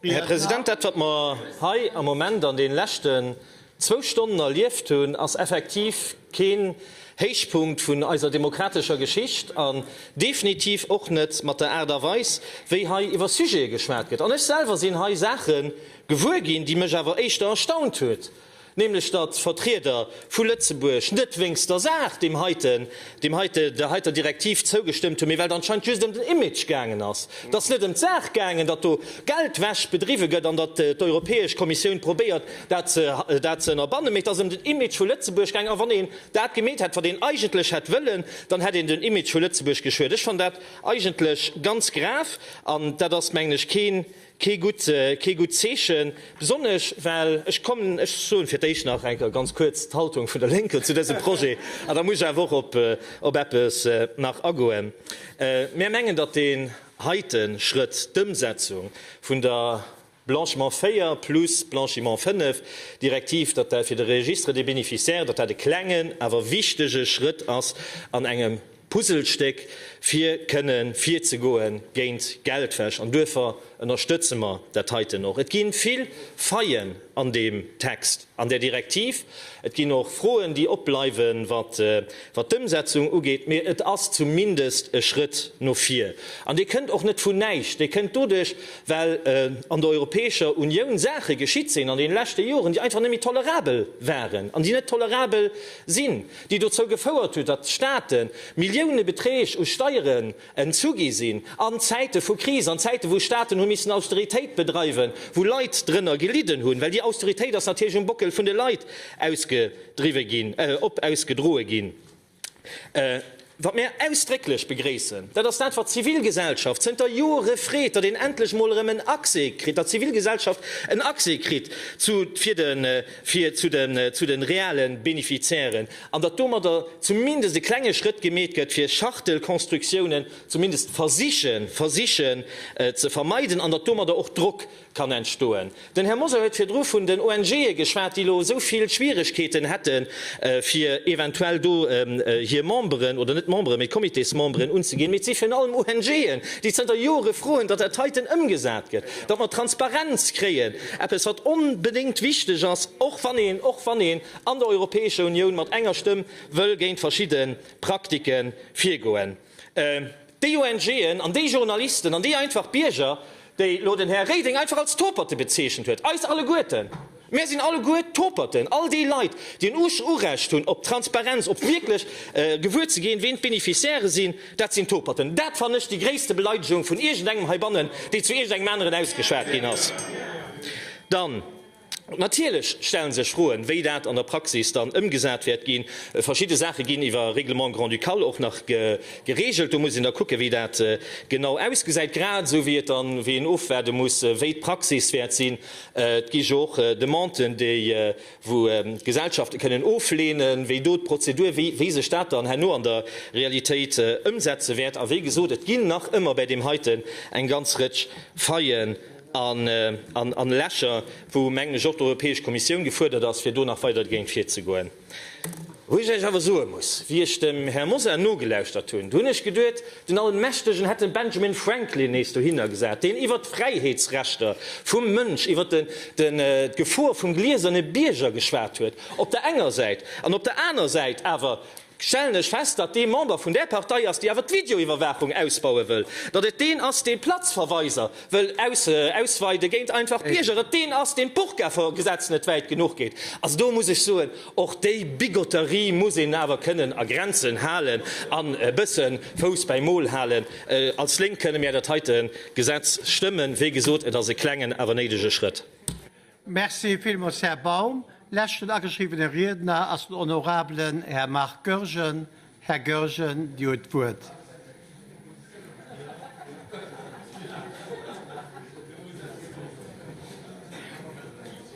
Här President, dat, wat mer hei am Moment an deene leschten zwou Stonnen erlieft hunn, ass effektiv keen Héichpunkt vun eiser demokratescher Geschicht an definitiv och net mat der Aart a Weis, wéi hei iwwer Sujete geschwat gëtt. An ech selwer sinn hei Saache gewuer ginn, déi mech awer éischter erstaunt huet, nämlech datt d'Vertrieder vu Lëtzebuerg net wéinst der Saach deem heiten, deem heite, der heiter Direktiv zougestëmmt hunn, mee well et anscheinend just ëm den Image gaangen ass. Et ass net ëm d'Saach gaangen, datt do Geldwäsch bedriwwe gëtt an datt d'Europäesch Kommissioun probéiert, dat ze, dat ze ënnerbannen, mee et ass ëm den Image vu Lëtzebuerg gaangen. A wann een dat gemeet hätt, wat een eigentlech hätt wëllen, dann hätt een den Image vu Lëtzebuerg geschuet. Ech fannen dat eigentlech ganz grav an dat ass, mengen ech, kee, Kee gutt Zeechen, besonnesch well, ech kommen, ech soen fir d'éischt nach eng Kéier ganz kuerz d'Haltung vun der Lénker zu dësem Projet an da muss ech awer och op eppes nach agoen. Mär mengen, datt deen heite Schrëtt, d'Ëmsetzung vun der Blanchiment 4 plus Blanchiment 5 Direktiv, datt dat fir de Registre des bénéficiaires, datt dat e klengen, awer wichtege Schrëtt ass an engem, Puzzlestéck fir kënnen virzegoe géint Geldwäsch an duerfir ënnerstëtze mer dat heiten och. Et gi vill Faillen an deem Text, an där Direktiv. Et ginn och Froen, déi opbleiwen, wat d'Ëmsetzung ugeet, mee et ass zumindest e Schrëtt no vir. An dee kënnt och net vun näischt, dee kënnt doduerch, well an der Europäescher Unioun Saache geschitt sinn an deene leschte Joren, déi einfach net méi tolerabel waren an déi net tolerabel sinn. déi dozou gefouert huet, datt Staate Milliounebeträg u Steieren entzu gi sinn an Zäite vu Kris, an Zäite wou Staaten hu missen Austeritéit bedreiwen, wou Leit drënner gelidden hunn, well déi Austeritéit ass natierlech um Bockel vun de Leit ausgedriwwe ginn, op ausgedroe ginn. Wat mir ausdrécklech begréissen, dat ass dat, wat d'Zivilgesellschaft zënter Jore freet, datt een endlech mol erëm en Accès kritt, datt d'Zivilgesellschaft en Accès kritt zu de reale Bénéficiairen an datt domadder zumindest e klenge Schrëtt gemeet gëtt, fir Schachtelkonstruktiounen zumindest versichen ze vermeiden an datt domadder och Drock kann entstoen. Den Här Mosar huet virdru vun den ONGe geschwat, déi elo esou vill Schwierigkeeten hätte fir eventuell do hir Memberen, oder net Memberen, mee Comitésmemberen unzeginn. Mee et si virun allem ONGen, déi zënter Jore froen, datt dat heiten ëmgesat gëtt, datt mer Transparenz kréien, eppes wat onbedéngt wichteg ass, och wann een, och wann een an der Europäescher Unioun mat enger Stëmm wëll géint verschidde Praktiken virgoen. Déi ONGen an déi Journalisten an déi einfach Bierger, déi elo den Här Reding einfach als Toperte bezeechent huet, eis alleguerten, mär sinn alleguer Toperten, all déi Leit, déi en Urecht hunn op Transparenz, op wierklech gewuer ze ginn, ween d'Beneficiairë sinn, dat sinn Toperten. Dat fannen ech déi gréisste Beleidegung vun iergendengem heibannen, déi zu iergendengem aneren ausgeschwat ginn ass. Dann. Natierlech stellen sech Froen, wéi dat an der Praxis dann ëmgesat wäert ginn. Verschidde Saache ginn iwwer Règlement grand-ducal och nach geregelt. Do muss een da kucken, wéi dat genau ausgesäit, grad esou wéi et dann, wéi een ofwaarde muss, wéi d'Praxis wäert sinn. Et gi jo och Demanden, déi, wou Gesellschafte kënnen ofleenen, wéi do d'Prozedur, wéi, wéi sech dat dann herno an der Realitéit ëmsetze wäert. A wéi gesot, et ginn nach ëmmer bäi deem heiten eng ganz Rëtsch Faillen. an Lächer, wou, mengen ech, och d'Europäesch Kommissioun gefuerdert ass, fir do nach weider dergéint virzegoen. Wou ech lech awer soe muss, wéi ech dem Här Mosar nogelauschtert hunn, do hunn ech geduet, den Allmächtegen hätt den Benjamin Franklin nees dohinner gesat, deen iwwert d'Fräiheetsrechter vum Mënsch, iwwert d'Gefor vum glieserne Bierger geschwat huet, op der enger Säit, an op der aner Säit awer, stellen ech fest, datt dee Member vun där Partei ass, déi awer d'Videoiwwerwaachung ausbaue wëll, datt et deen ass, dee Platzverweiser wëll ausweide géint einfach Bierger, et deen ass, deen d'Burka-Gesetz net wäit genuch geet. Also do muss ech soen, och déi Bigotterie muss een awer kënnen a Grenzen halen an e bësse Fouss bäi Mol halen. Als Lénk kënne mär dat heite Gesetz stëmmen. Wéi gesot, et ass e klengen, awer néidege Schrëtt. Merci villmools, Här Baum. Leschten ageschriwwene Riedner ass den honorabelen Här Marc Goergen. Här Goergen, Dir hutt d'Wuert.